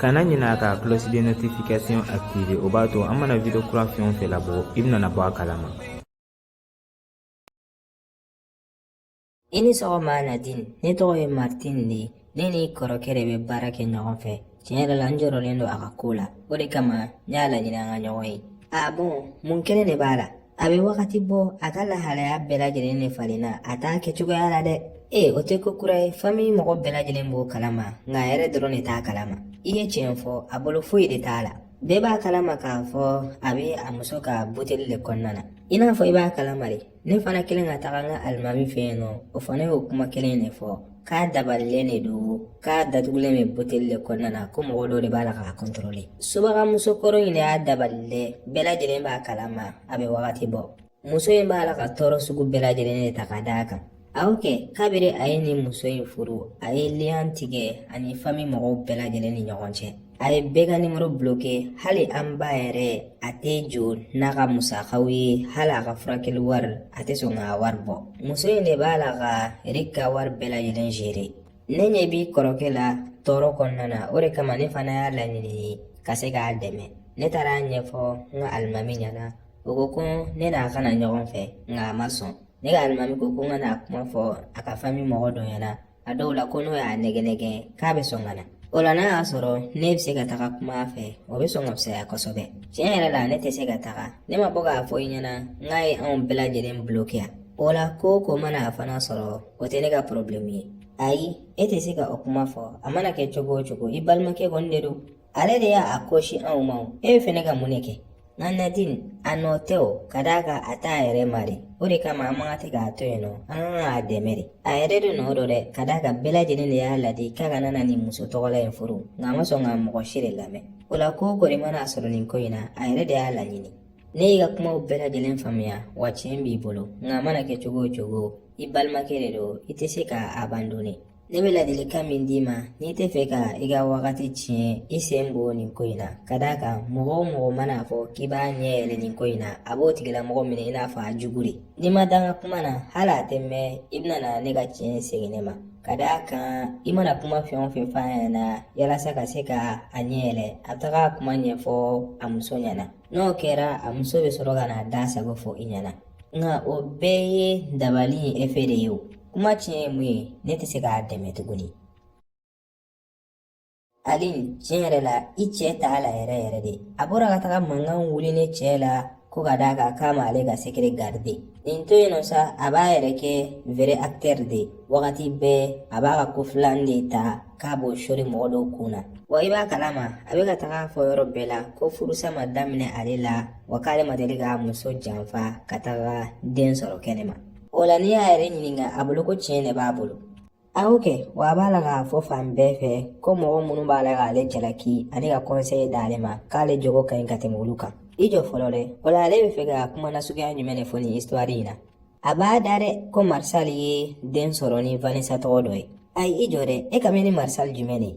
kana ɲinɛ ka cloche de notification activer o b'a to an mana video kura fɛn o fɛn labɔ i bɛna bɔ a kalama i ni sɔgɔma nadine ne tɔgɔ ye martin de ye ne n'i kɔrɔkɛ de bɛ baara kɛ ɲɔgɔn fɛ tiɲɛ yɛrɛ la n jɔrɔlen don a ka ko la o de kama ne y'a laɲini an ka ɲɔgɔn ye ah bon mun kelen de b'a la a bɛ wagati bɔ a ka lahalaya bɛɛ lajɛlen de falenna a t'a kɛcogoya la dɛ ee o tɛ ko kura ye fami mɔgɔ bɛɛ lajɛlen b'o kalama nka a yɛrɛ dɔrɔn de t'a kalama i ye tiɲɛ fɔ a bolo foyi de t'a la bɛɛ b'a kalama k'a fɔ a bɛ a muso ka buteli de kɔnɔna na i n'a fɔ i b'a kalama de ne fana kɛlen ka taga n ka alimami fɛ yen nɔ o fana y'o kuma kelen de fɔ k'a dabalilen de don k'a datugulen bɛ buteli de kɔnɔna na ko mɔgɔ dɔ de b'a la k'a kɔntɔrɔle subaga muso kɔrɔ in de y'a dabali dɛ bɛɛ lajɛlen b'a kalama a bɛ wagati bɔ muso in b'a la ka tɔɔrɔ sugu bɛɛ lajɛlen de ta ka d'a kan awɔ kɛ kabiri a ye nin muso in furu a ye liyan tigɛ a ni fami mɔgɔw bɛɛ lajɛlen ni ɲɔgɔn cɛ a ye bɛɛ ka nimoro bloke hali an ba yɛrɛ a tɛ jɔ n'a ka musakaw ye hali a ka furakɛli wari a tɛ sɔn k'a wari bɔ muso in de b'a la ka rik ka wari bɛɛ lajɛlen jere ne ɲɛ b'i kɔrɔkɛ la tɔɔrɔ kɔnɔna na o de kama ne fana y'a laɲini ka se k'a dɛmɛ ne taara a ɲɛfɔ n ka alimami ɲɛna o ko ko ne n'a ka na ɲɔgɔn fɛ nka a ma sɔn ne ka alimami ko ko n ka n'a kuma fɔ a ka fami mɔgɔ dɔ ɲɛna a dɔw la ko n'o y'a nɛgɛn nɛgɛn k'a bɛ sɔn ka na o la n'a y'a sɔrɔ ne bɛ se ka taga kuma a fɛ o bɛ sɔn ka fisaya kosɛbɛ tiɲɛ yɛrɛ la ne tɛ se ka taga ne ma bɔ k'a fɔ i ɲɛna n k'a ye anw bɛɛ lajɛlen bloke wa o la ko o ko mana a fana sɔrɔ o tɛ ne ka porobilɛmu ye ayi e tɛ se ka o kuma fɔ a mana kɛ cogo o cogo i balimakɛ kɔni de don ale de y'a kɔsin anw ma o e fɛ ne ka mun de kɛ nka nadine a nɔ tɛ o ka d'a kan a t'a yɛrɛ ma dɛ o de kama an man kan tɛ k'a to yen nɔ an kan k'a dɛmɛ de a yɛrɛ de nɔ don dɛ ka d'a kan bɛɛ lajɛlen de y'a ladi k'a kana na nin muso tɔgɔla in furu nka a ma sɔn ka mɔgɔ si de lamɛn o la ko o kɔni mana a sɔrɔ nin ko in na a yɛrɛ de y'a laɲini ne y'i ka kumaw bɛɛ lajɛlen faamuya wa tiɲɛ b'i bolo nka a mana kɛ cogo o cogo i balimakɛ de don i tɛ se k'a abandonner Ne bɛ ladilikan min d'i ma n'i t'a fɛ ka i ka wagati tiɲɛ i sen bɔ nin ko in na ka d'a kan mɔgɔ o mɔgɔ mana a fɔ k'i b'a ɲɛ yɛlɛ nin ko in na a b'o tigilamɔgɔ minɛ i n'a fɔ a jugu de n'i ma da n ka kuma na hali a tɛ mɛɛn i bɛna na ne ka tiɲɛ segin ne ma ka d'a kan i mana kuma fɛn o fɛn f'a ɲɛna yalasa ka se ka a ɲɛ yɛlɛ a bɛ taga a kuma ɲɛfɔ a muso ɲɛna n'o kɛra a muso bɛ sɔrɔ ka n'a da sago fɔ i ɲɛna nka o bɛɛ ye dabali in efe de ye o kuma tiɲɛ ye mun ye ne tɛ se k'a dɛmɛ tuguni ali tiɲɛ yɛrɛ la i cɛ t'a la yɛrɛ yɛrɛ dɛ a bɔra ka taga mankan wuli ne cɛ la ko ka d'a kan k'a ma ale ka sekere garide nin to yen nɔ sa a b'a yɛrɛ kɛ vrai acteur de wagati bɛɛ a b'a ka ko filan de ta k'a b'o sori mɔgɔ dɔw kun na wa i b'a kalama a bɛ ka taga fɔ yɔrɔ bɛɛ la ko furusa ma daminɛ ale la wa k'ale ma deli k'a muso janfa ka taga den sɔrɔ kɛnɛma o la n'i y'a yɛrɛ ɲininka a bolo ko tiɲɛ de b'a bolo a y'o kɛ wa a b'a la k'a fɔ fan bɛɛ fɛ ko mɔgɔ minnu b'a la k'ale jalaki ani ka kɔnseye d'ale ma k'ale jogo ka ɲi ka tɛmɛ olu kan i jɔ fɔlɔ dɛ o la ale bɛ fɛ ka kuma nasuguya jumɛn de fɔ nin histoire in na a b'a da dɛ ko marisali ye den sɔrɔ ni vanessa tɔgɔ dɔ ye ayi i jɔ dɛ e kan bɛ ni marisali jumɛn de ye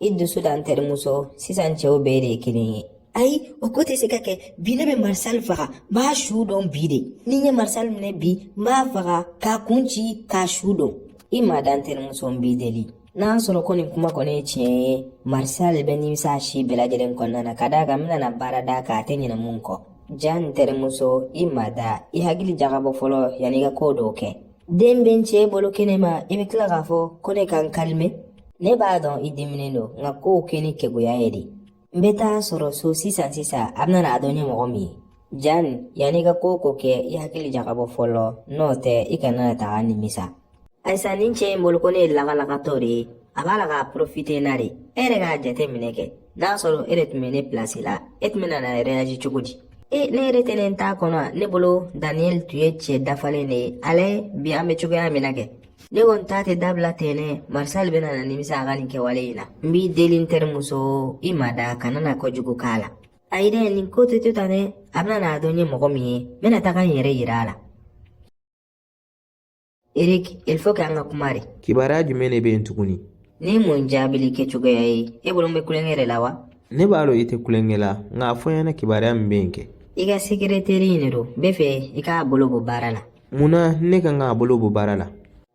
I dusu da n terimuso sisan cɛw bɛɛ de ye kelen ye. Ayi o ko tɛ se ka kɛ bi ne bɛ marisali faga n b'a su don bi de ni n ye marisali minɛ bi n b'a faga k'a kun ci k'a su don i ma da n terimuso n b'i deli n'a sɔrɔ ko nin kuma kɔni ye tiɲɛ ye marisali bɛ nimisa a si bɛɛ lajɛlen kɔnɔna na ka d'a kan n bɛna baara d'a kan a tɛ ɲinɛ min kɔ ja n terimuso i ma da i hakili jagabɔ fɔlɔ yanni i ka ko dɔw kɛ den bɛ n cɛ bolo kɛnɛma i bɛ tila k'a fɔ ko ne ka n kalime ne b'a dɔn i diminen don nka kow kɛ ni keguya ye dɛ n bɛ t'a sɔrɔ so sisan sisan a bɛna n'a dɔn n ye mɔgɔ min ye jan yanni i ka ko o ko kɛ i hakili jagabɔ fɔlɔ n'o tɛ i kana na taga nimisa ayisa nin cɛ in bolo ko ne ye lagalagatɔ de ye a b'a la ka porofite n na de e yɛrɛ k'a jateminɛ kɛ n'a sɔrɔ e de tun bɛ ne pilasi la e tun bɛna na rɛyaji cogo di e ne yɛrɛ tun t'a kɔnɔ a ne bolo daniyɛli tun ye cɛ dafalen de ye a lajɛ bi an bɛ cogoya min na kɛ ne kɔni ta tɛ dabila ten dɛ marisali bɛna na nimisa a ka nin kɛwale in na n b'i deli n terimuso i ma da kana na kojugu k'a la ayi dɛ nin ko tɛ to tan dɛ a bɛna n'a dɔn n ye mɔgɔ min ye n bɛna taga n yɛrɛ yira a la Erik, il faut k'an ka kuma dɛ. Kibaruya jumɛn de bɛ yen tuguni? Nin ye mun jaabili kɛcogoya ye, e bolo n bɛ tulonkɛ de la wa? Ne b'a dɔn i tɛ tulonkɛ la, nka a fɔ n ɲɛna kibaruya min bɛ yen kɛ. I ka sekereteri in de don, n bɛ fɛ i k'a bolo bɔ baara la. Mun na ne ka kan k'a bolo bɔ baara la?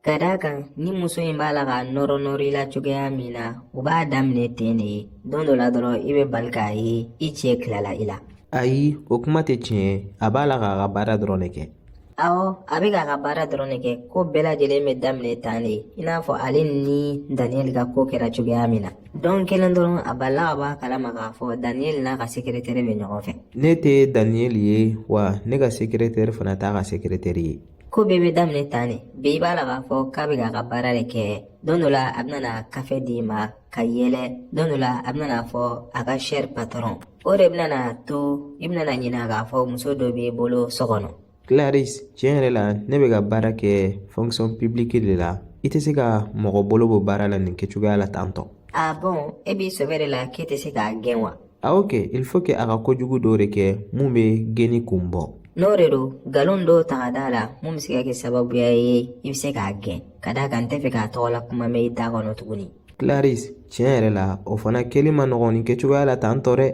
Ka d'a kan, nin muso in b'a la k'a nɔrɔ nɔrɔ i la cogoya min na, u b'a daminɛ ten de ye. Don dɔ la dɔrɔn, i bɛ bali k'a ye i cɛ tilala i la. Ayi, o kuma tɛ tiɲɛ ye. A b'a la k'a ka baara dɔrɔn de kɛ. Awɔ a bɛ k'a ka baara dɔrɔn de kɛ ko bɛɛ lajɛlen bɛ daminɛ tan de i n'a fɔ ale ni daniyɛli ka ko kɛra cogoya min na don kelen dɔrɔn a balila ka bɔ a kalama k'a fɔ daniyɛli n'a ka sekeretɛri bɛ ɲɔgɔn fɛ ne tɛ daniyɛli ye wa ne ka sekeretɛri fana t'a ka sekeretɛri ye ko bɛɛ bɛ daminɛ tan de bi i b'a la k'a fɔ k'a bɛ k'a ka baara de kɛ don dɔ la a bɛna kafe d'i ma ka yɛlɛ don dɔ la a bɛna a fɔ a ka sɛri patɔrɔn o de bɛna n'a to i bɛna na ɲinɛ k'a fɔ muso dɔ b'i bolo so kɔnɔ Clarisse tiɲɛ yɛrɛ la ne bɛ ka baara kɛ fonction publique de la i tɛ se ka mɔgɔ bolo bɔ baara la nin kɛcogoya la tan tɔ ah bon e b'i sɛbɛ de la k'e tɛ se k'a gɛn wa awɔ kɛ il faut que a ka kojugu dɔ de kɛ mun bɛ gɛnni kun bɔ n'o de don nkalon dɔw ta ka d'a la mun bɛ se ka kɛ sababuya ye i bɛ se k'a gɛn ka d'a kan n tɛ fɛ k'a tɔgɔla kuma mɛn i da kɔnɔ tuguni Clarisse tiɲɛ yɛrɛ la o fana kɛli ma nɔgɔn nin kɛcogoya la tan tɔ dɛ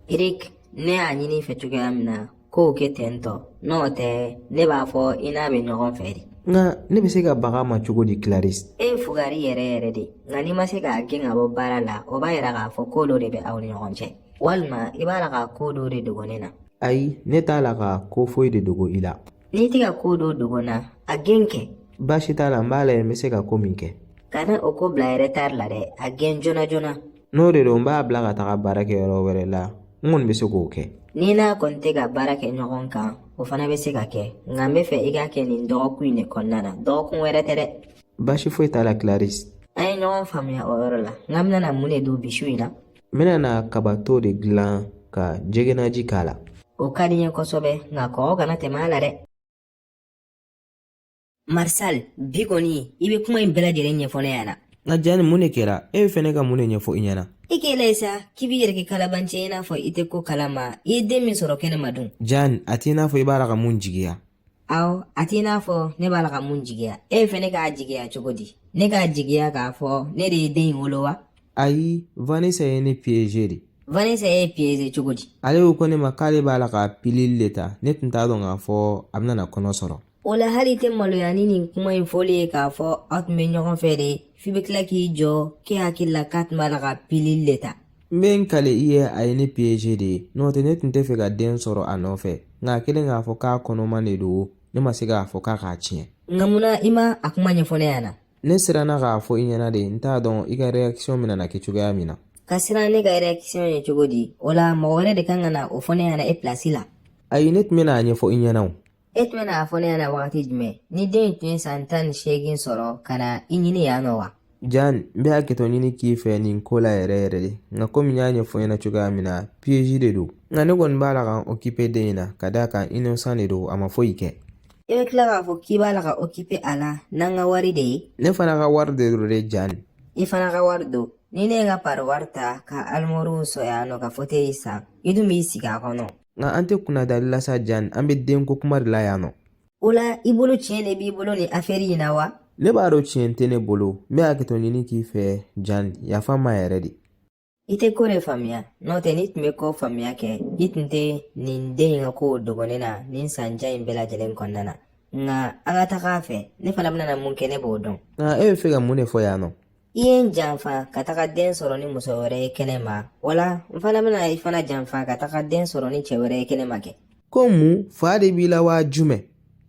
Eric ne y'a ɲini i fɛ cogoya min na k'o kɛ ten tɔ n'o tɛ ne b'a fɔ i n'a bɛ ɲɔgɔn fɛ de nka ne bɛ se ka bag'a ma cogo di Clarisse e ye fugari yɛrɛ yɛrɛ de nka n'i ma se k'a gɛn k'a bɔ baara la o b'a yira k'a fɔ ko dɔ de bɛ aw ni ɲɔgɔn cɛ walima i b'a la ka ko dɔ de dogo ne na ayi ne t'a la ka ko foyi de dogo i la N'i tɛ ka ko dɔ dogo n na a gɛn kɛ baasi t'a la n b'a lajɛ n bɛ se ka ko min kɛ kana o ko bila retard la dɛ a gɛn joona joona n'o de don n b'a bila ka taga baara kɛ yɔrɔ wɛrɛ la n kɔni bɛ se k'o kɛ n'i n'a kɔni tɛ ka baara kɛ ɲɔgɔn kan o fana bɛ se ka kɛ nka n bɛ fɛ i k'a kɛ nin dɔgɔkun in de kɔnɔna na dɔgɔkun wɛrɛ tɛ dɛ baasi foyi t'a la Clarisse an ye ɲɔgɔn faamuya o yɔrɔ la nk'an bɛna na mun de dun bi su in na n bɛna na kabato de dilan ka jɛgɛnaji k'a la o ka di n ye kosɛbɛ nka kɔgɔ kana tɛmɛ a la dɛ Martial bi kɔni i bɛ kuma in bɛɛ lajɛlen ɲɛfɔ ne ɲɛna nka Jeanne mun de kɛra e bɛ fɛ ne ka mun de ɲɛfɔ i ɲɛna i k'i lajɛ sa k'i b'i yɛrɛ kɛ kalabanci i n'a fɔ i tɛ ko kalama i ye den min sɔrɔ kɛnɛma dun Jeanne a t'i n'a fɔ i b'a la ka mun jigiya aw a t'i n'a fɔ ne b'a la ka mun jigiya e fɛ ne k'a jigiya cogo di ne k'a jigiya k'a fɔ ne de ye den in wolo wa ayi Vanessa ye ne piege de Vanessa y'i piege cogo di ale ko ko ne ma k'ale b'a la ka pilili le ta ne tun t'a dɔn k'a fɔ a bɛna na kɔnɔ sɔrɔ o la hali i tɛ maloya ni nin kuma in fɔli ye k'a fɔ aw tun bɛ ɲɔgɔn fɛ de f'i bɛ tila k'i jɔ k'e hakili la k'a tun b'a la ka pilili le ta N bɛ n kale i ye a ye ne piege de n'o tɛ ne tun tɛ fɛ ka den sɔrɔ a nɔfɛ nka a kɛlen k'a fɔ k'a kɔnɔman de don ne ma se k'a fɔ k'a k'a tiɲɛ nka mun na i ma a kuma ɲɛfɔ ne ɲɛna ne siranna k'a fɔ i ɲɛna de n t'a dɔn i ka réaction bɛna na kɛ cogoya min na ka siran ne ka réaction ɲɛ cogo di o la mɔgɔ wɛrɛ de kan ka na o fɔ ne ɲɛna e pilasi la ayi ne tun bɛna a ɲɛfɔ i ɲɛna o E tun bɛna a fɔ ne ɲɛna wagati jumɛn ni den in tun ye san tan ni seegin sɔrɔ ka na i ɲini yan nɔ wa Jeanne n bɛ hakɛto ɲini k'i fɛ nin ko la yɛrɛ yɛrɛ de nka komi n y'a ɲɛfɔ i ɲɛna cogoya min na piyeji de don nka ne kɔni b'a la ka n okipe den in na ka d'a kan inosan de don a ma foyi kɛ i bɛ tila k'a fɔ k'i b'a la k'i okipe a la n'an ka wari de ye ne fana ka wari de don dɛ Jeanne i fana ka wari don ni ne ye n ka pariwari ta ka alimoriw sɔrɔ yan nɔ ka foteyi san i dun b'i sigi a kɔnɔ nka an tɛ kunnadali lasa jan an bɛ denko kuma de la yan nɔ o la i bolo tiɲɛ de b'i bolo nin afɛri in na wa ne b'a dɔn tiɲɛ tɛ ne bolo n bɛ hakɛto ɲini k'i fɛ jan yafa n ma yɛrɛ de i tɛ ko de faamuya n'o tɛ n'i tun bɛ ko faamuya kɛ i tun tɛ nin den in ka kow dogo ne na nin san jan in bɛɛ lajɛlen kɔnɔna na nka an ka taga a fɛ ne fana bɛna na mun kɛ ne b'o dɔn nka e bɛ fɛ ka mun de fɔ yan nɔ i ye n janfa ka taga den sɔrɔ ni muso wɛrɛ ye kɛnɛ ma wala n fana bɛna i fana janfa ka taga den sɔrɔ ni cɛ wɛrɛ ye kɛnɛ ma kɛ ko mun fa de b'i la waa jumɛn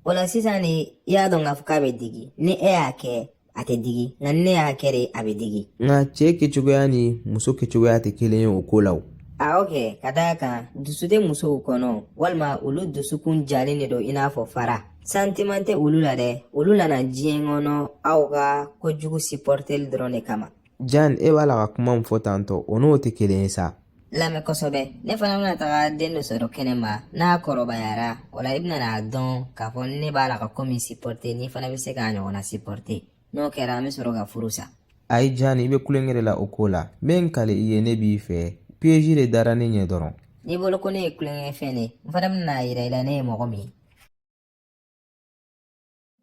o la sisan de i y'a dɔn k'a fɔ k'a bɛ digi ni e y'a kɛ a tɛ digi nka ni ne y'a kɛ de a bɛ digi nka cɛ kɛcogoya ni muso kɛcogoya tɛ kelen ye o ko la o a y'o kɛ ka d'a kan dusu tɛ musow kɔnɔ walima olu dusukun jalen de don i n'a fɔ fara santiman tɛ olu la dɛ olu nana diɲɛ kɔnɔ aw ka kojugu sipɔrteli dɔrɔn de kama jan e b'a la ka kuma min fɔ tantɔ o n'o tɛ kelen ye sa lamɛn kosɛbɛ ne fana bɛna taga den dɔ sɔrɔ kɛnɛ ma n'a kɔrɔbayara o la i bɛna n'a dɔn k'a fɔ ne b'a la ka ko min sipɔrte n'i fana bɛ se k'a ɲɔgɔnna sipɔrte n'o kɛra an bɛ sɔrɔ ka furu sa ayi jan i bɛ tulonkɛ de la o ko la n bɛ n kali i ye ne b'i fɛ piyeji de dara ne ɲɛ dɔrɔn n'i bolo ko ne ye tulonkɛfɛn de n fana bɛna n'a jira i la ne ye mɔgɔ min ye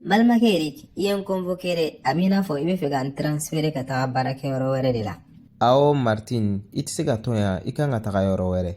balimakɛ erik i ye n convoqué dɛ a b'i n'a fɔ i bɛ fɛ ka n transférer ka taga baarakɛ yɔrɔ wɛrɛ de la awɔ martin i tɛ se ka to yan i kan ka taga yɔrɔ wɛrɛ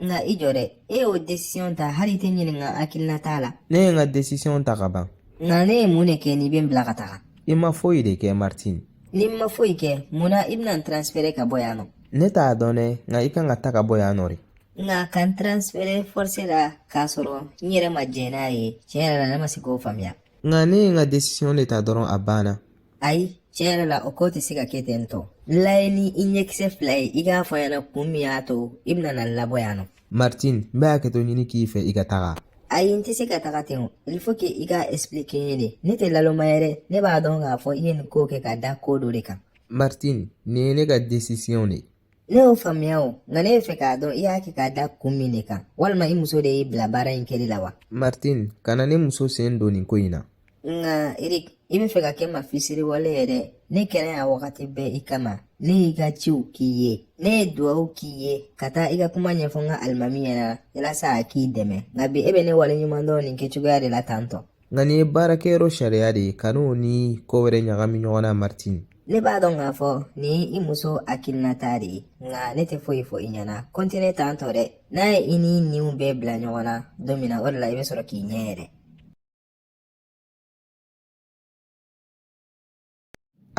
nka i jɔ dɛ e y'o décision ta hali i tɛ n ɲininka n hakilinata la ne ye n ka décision ta ka ban nka ne ye mun de kɛ n'i bɛ n bila ka taga i ma foyi de kɛ martin ni n ma foyi kɛ mun na i bɛna n transférer ka bɔ yan nɔ ne t'a dɔn dɛ nka i kan ka taa ka bɔ yan nɔ de na ka n transfere force la k'a sɔrɔ n yɛrɛ ma jɛn n'a ye tiɲɛ yɛrɛ la ne ma se k'o faamuya nka ne ye n ka desisiɔn de ta dɔrɔn a banna ayi tiɲɛ yɛrɛ la o ko tɛ se ka kɛ ten tɔ n lajɛ ni i ɲɛkisɛ fila ye i k'a fɔ n ɲɛna kun min y'a to i bɛna na n labɔ yan nɔ martin n bɛ hakɛto ɲini k'i fɛ i ka taga ayi n tɛ se ka taga ten o il faut que i k'a expliquer n ye de ne tɛ naloma yɛrɛ ne b'a dɔn k'a fɔ i ye nin ko kɛ ka da ko dɔ de kan martin nin ye ne ka desisiɔn de ye Ne y'o faamuya o nka ne fɛ k'a dɔn i y'a kɛ k'a da kun min de kan walima i muso de y'i bila baara in kɛli la wa martin kana ne muso sen don nin ko in na nka erik i bɛ fɛ ka kɛ maa fisiriwale ye dɛ ne kɛra yan wagati bɛɛ i kama ne y'i ka ciw k'i ye ne ye dugawu k'i ye ka taa i ka kuma ɲɛfɔ n ka alimami ɲɛna yalasa a k'i dɛmɛ nka bi e bɛ ne waleɲuman dɔn nin kɛcogoya de la tantɔ nka nin ye baarakɛyɔrɔ sariya de ye kan'o ni ko wɛrɛ ɲagami ɲɔgɔn na martin ne b'a dɔn k'a fɔ nin ye i muso hakilinata de ye nka ne tɛ foyi fɔ i ɲɛna kɔntine tantɔ dɛ n'a ye i ni ninw bɛɛ bila ɲɔgɔn na don min na o de la i bɛ sɔrɔ k'i ɲɛ yɛlɛ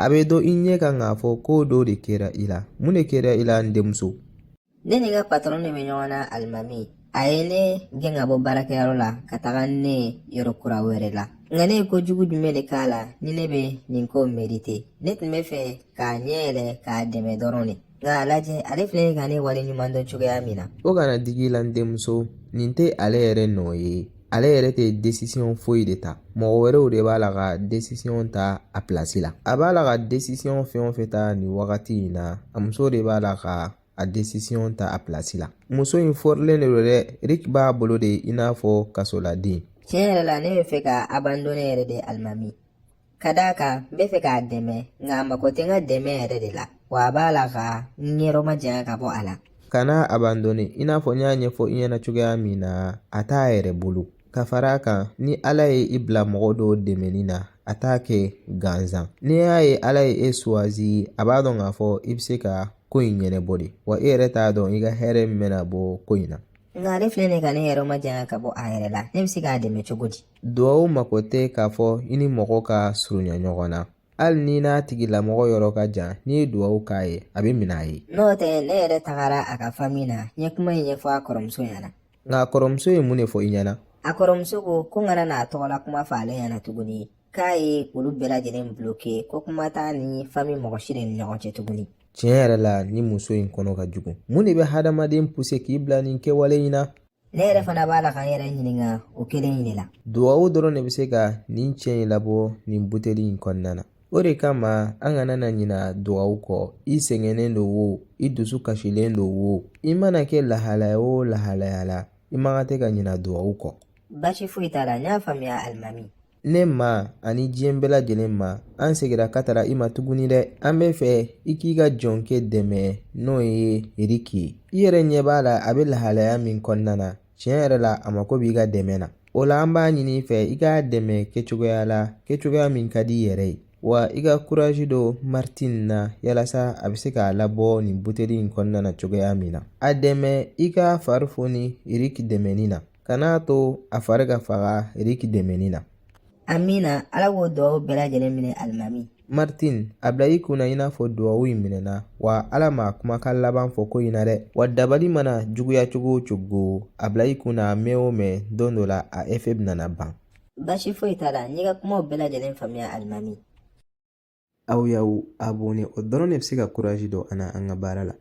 A bɛ dɔn i ɲɛ kan k'a fɔ ko dɔ de kɛra i la mun de kɛra i la n denmuso ne ni n ka patɔrɔn de bɛ ɲɔgɔn na alimami a ye ne gɛn ka bɔ baarakɛyɔrɔ la ka taga ne yɔrɔ kura wɛrɛ la nka ne ye ko jugu jumɛn de k'a la ni ne bɛ nin ko merite ne tun bɛ fɛ k'a ɲɛ yɛlɛ k'a dɛmɛ dɔrɔn de nka a lajɛ ale filɛ ka ne wale ɲuman dɔn cogoya min na o kana digi i la n denmuso nin tɛ ale yɛrɛ nɔ ye ale yɛrɛ tɛ desisiyɔn foyi de ta mɔgɔ wɛrɛw de b'a la ka desisiyɔn ta a pilasi la a b'a la ka desisiyɔn fɛn o fɛn ta nin wagati in na a muso de b'a la ka a desisiyɔn ta a pilasi la muso in fɔrilen de don dɛ eriki b'a bolo de i n'a fɔ kasoladen tiɲɛ yɛrɛ la ne bɛ fɛ ka abandone yɛrɛ de alimami Ka d'a kan n bɛ fɛ k'a dɛmɛ nka a mako tɛ n ka dɛmɛ yɛrɛ de la wa a b'a la ka n yɔrɔ majanya ka bɔ a la kana a abandone i n'a fɔ n y'a ɲɛfɔ i ɲɛna cogoya min na a t'a yɛrɛ bolo ka fara a kan ni ala ye i bila mɔgɔ dɔ dɛmɛni na a t'a kɛ gansan n'i y'a ye ala ye e suwazi a b'a dɔn k'a fɔ i bɛ se ka ko in ɲɛnɛbɔ de wa e yɛrɛ t'a dɔn i ka hɛrɛ min bɛna bɔ ko in na nka ale filɛ nin ka ne yɔrɔ majanya ka bɔ a yɛrɛ la ne bɛ se k'a dɛmɛ cogo di Dugawu mako tɛ k'a fɔ i ni mɔgɔ ka surunya ɲɔgɔn na hali n'i n'a tigilamɔgɔ yɔrɔ ka jan n'i ye dugawu k'a ye a bɛ minɛ a ye n'o tɛ ne yɛrɛ tagara a ka fami na n ye kuma in ɲɛfɔ a kɔrɔmuso ɲɛna nka a kɔrɔmuso ye mun de fɔ i ɲɛna a kɔrɔmuso ko ko n kana n'a tɔgɔla kuma fɔ ale ɲɛna tuguni k'a ye olu bɛɛ lajɛlen bloke ko kuma t'a ni fami mɔgɔ si de ni ɲɔgɔn cɛ tuguni tiɲɛ yɛrɛ la nin muso in kɔnɔ ka jugu mun de bɛ hadamaden puse k'i bila nin kɛwale in na ne yɛrɛ fana b'a la ka n yɛrɛ ɲininka o kelen in de la duwawu dɔrɔn de bɛ se ka nin cɛ in labɔ nin buteli in kɔnɔna na o de kama an kana na ɲina duwawu kɔ i sɛgɛnnen don wo i dusu kasilen don wo i mana kɛ lahalaya o lahalaya la i man kan tɛ ka ɲina duwawu kɔ baasi foyi t'a la n y'a faamuya alimami ne ma ani diɲɛ bɛɛ lajɛlen ma an seginna ka taara i ma tuguni dɛ an bɛ fɛ i k'i ka jɔnkɛ dɛmɛ n'o ye eriki ye i yɛrɛ ɲɛ b'a la a bɛ lahalaya min kɔnɔna na tiɲɛ yɛrɛ la a mako b'i ka dɛmɛ na o la an b'a ɲini i fɛ i k'a dɛmɛ kɛcogoya la kɛcogoya min ka di i yɛrɛ ye wa i ka kurazi don martin na yalasa a bɛ se k'a labɔ nin buteli in kɔnɔna na cogoya min na a dɛmɛ i k'a fari foni eriki dɛmɛni na kan'a to a fari ka faga eriki dɛmɛni na amina ala k'o duwawu bɛɛ lajɛlen minɛ alimami martin a bila i kunna i n'a fɔ duwawu in minɛna wa ala ma kumakan laban fɔ ko in na dɛ wa dabali mana juguya cogo o cogo a bila i kunna mɛn o mɛn don dɔ la a efe bɛna ban basi foyi t'a la n y'i ka kumaw bɛɛ lajɛlen faamuya alimami Aw y'aw abonɛ o dɔrɔn de bɛ se ka kuraji don an na an ka baara la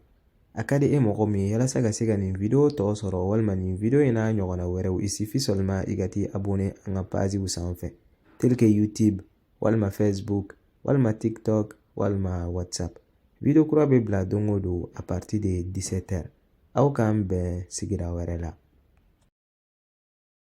a ka di e mɔgɔ min ye yalasa ka se ka nin video tɔ sɔrɔ walima nin video in n'a ɲɔgɔnna wɛrɛw il suffit seulement i ka t'i abonɛ an ka paziw sanfɛ tel que youtube walima facebook walima tiktok walima whatsapp video kura bɛ bila don o don a partir de 17 heures aw k'an bɛn sigira wɛrɛ la